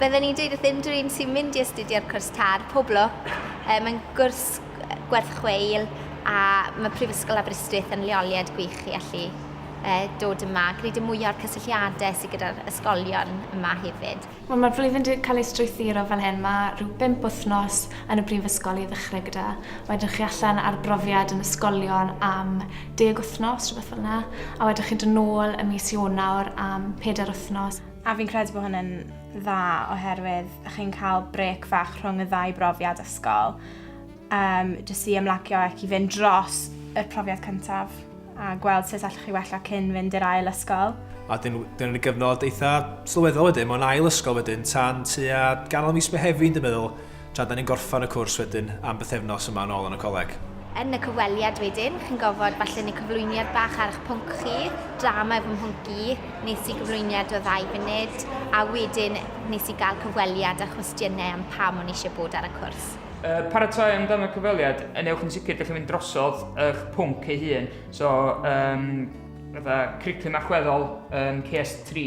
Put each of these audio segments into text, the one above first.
Bydden ni'n dweud wrth unrhyw un sy'n mynd i astudio'r cwrs tar, pob lwc. E, mae'n gwrs gwerth chweil a mae Prifysgol Aberystwyth yn leoliad gwych i allu e, dod yma. Gwneud y mwyaf o'r cysylltiadau sydd gyda'r ysgolion yma hefyd. Wel mae'r flwyddyn 'di cael ei strwythuro fel hyn, mae rhyw bump wythnos yn y brifysgol i ddechrau gyda, wedyn chi allan ar brofiad yn ysgolion am deg wythnos, rhywbeth fel yna, a wedyn chi'n dod nôl y mis Ionawr am pedair wythnos. A fi'n credu bod hwnna'n dda oherwydd chi'n cael brec fach rhwng y ddau brofiad ysgol, um, jyst i ymlacio ac i fynd dros y profiad cyntaf. a gweld sut allwch chi wella cyn fynd i'r ail ysgol. A dyn nhw wedi gyfnod eitha sylweddol wedyn, mae'n ail ysgol wedyn, tan tua ganol mis Mehefin, dwi'n meddwl, tra da ni'n gorffan y cwrs wedyn am bythefnos yma yn ôl yn y coleg. Yn y cyfweliad wedyn, chi'n gofod falle neu cyflwyniad bach ar eich pwnc chi, drama fy mhwnc i, nes i gyflwyniad o ddau funud, a wedyn nes i gael cyfweliad a chwestiynau am pam o'n eisiau bod ar y cwrs. Uh, paratoi amdano cyfweliad, yn ewch yn sicr gallu mynd drosodd eich pwnc ei hun. So, um, fatha cricum allweddol um, CS3,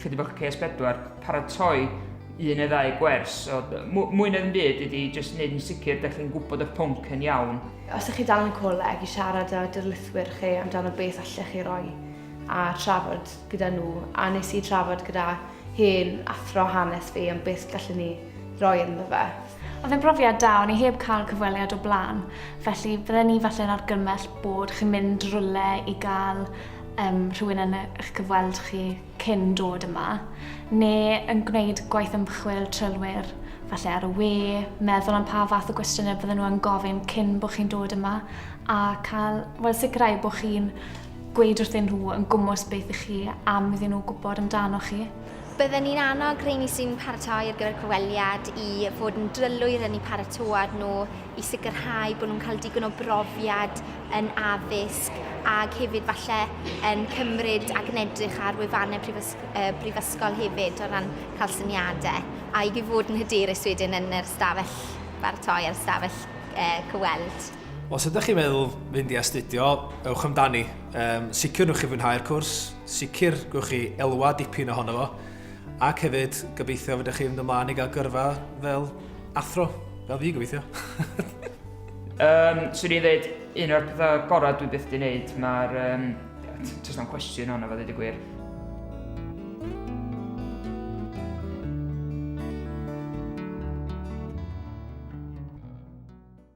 chydig bach CS4, paratoi un neu ddau gwers. So, mwy na'n byd ydy jyst wneud yn sicr da chi'n gwybod eich pwnc yn iawn. Os ydych chi dal yn coleg i siarad â dyrlithwyr chi amdano beth allech chi roi a trafod gyda nhw, a nes i trafod gyda hen athro hanes fi am beth gallwn ni roi ynddo fe. Oedd e'n brofiad da, o'n i heb cael cyfweliad o blaen, felly bydden ni falle'n argymell bod chi'n mynd rwle i gael um, rhywun yn eich cyfweld chi cyn dod yma, neu yn gwneud gwaith ymchwil trylwyr falle ar y we, meddwl am pa fath o gwestiynau bydden nhw'n gofyn cyn bod chi'n dod yma, a cael, wel, sicrhau bod chi'n gweud wrthyn nhw yn gwmwys beth i chi am iddyn nhw gwybod amdano chi. Bydden ni'n annog rheini sy'n paratoi ar gyfer cyfweliad i fod yn drylwyr yn eu paratoad nhw i sicrhau bod nhw'n cael digon o brofiad yn addysg ac hefyd falle yn cymryd ac yn edrych ar wefannau brifysgol hefyd o ran cael syniadau a i fod yn hyderus wedyn yn yr ystafell baratoi a'r ystafell cyfweld. Os ydych chi'n meddwl fynd i astudio, ewch amdani. Sicr wnewch chi fwynhau'r cwrs. sicr gwch chi elwa dipyn ohono fo ac hefyd gobeithio fydych chi'n mynd ymlaen i gael gyrfa fel athro, fel fi gobeithio. um, swn i'n dweud, un o'r pethau gorau dwi byth di wneud, mae'r... Um, Tys na'n cwestiwn hwnna, fe ddweud y gwir.